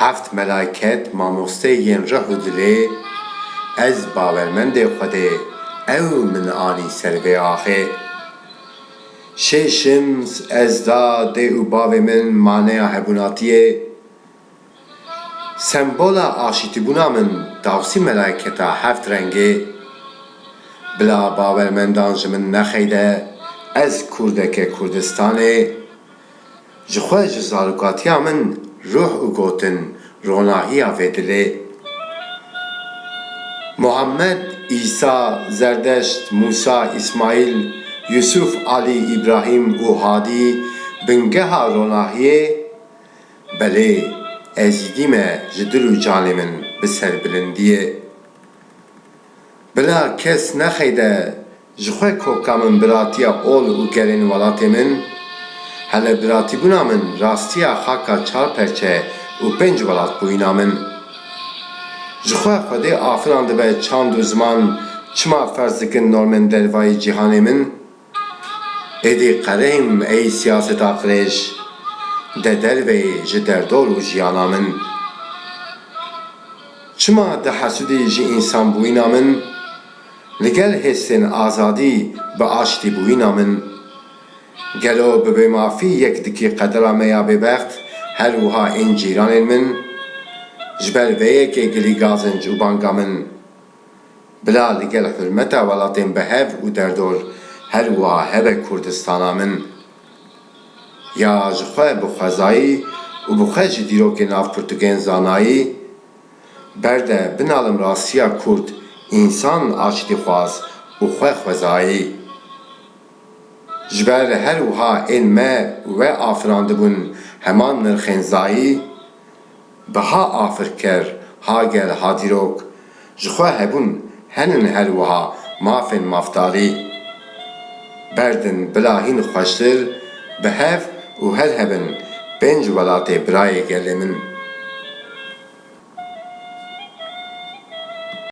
Heft melaiket mamoste yên rih û dilê, ez bawermendê Xwedê, ew min anî ser vê axê. Şê şims ez da dê û bavê min maneya hebûnatiyê. Sembola aşîtîbûna min dawsî melaiketa heft rengê. Bila bawermendan ji min nexeyde, ez kurdeke Kurdistanê, Ji xwe ji zarokatiya min ruh û gotin ronahiya vê dilê. Muhammed, Îsa, Zerdeşt, Mûsa, Îsmaîl, Yûsûf, Alî, Îbrahîm û Hadî bingeha ronahiyê, belê, Êzîdî me ji dil û canê min bi serbilindiyê. Bila kes nexeyde Ji xwe koka min biratiya ol û gerên welatê min, hele biratîbûna min rastiya xaka çar perçe û pênc welatbûyîna min. Ji xwe xwedê afiran dibe çand û ziman çima ferz dikin normên dervayî cîhanê min? Êdî qerehîm ey siyaseta qirêj de derve yê ji derdor û jiyana min. Çima dihesûdî ji însanbûyîna min? Li gel hêsên azadî bi aştî bûyîna min. Gelo bi bêmafî yek dikî qedera me ya bêbext, her wiha ên cîranên min? Ji ber vê yekê gilî gazinc û banga min. Bila li gel hurmeta welatên bi hev û derdor her wiha hebe Kurdistana min. Ya ji xwe bi xwezayî û bi xwe ji dîrokên navpirtûkên zanayî, Berde binalim rastiya kurd însan aç dixwaz û xwe xwezayî. Ji ber her wiha ên me we afirandibûn heman nirxên zayî bi ha afirker ha gel ha dîrok ji xwe hebûn Henin her wiha mafên mafdalî. Berdin bila hîn xweştir bi hev û her hebin pênc welatê birayê gelê min.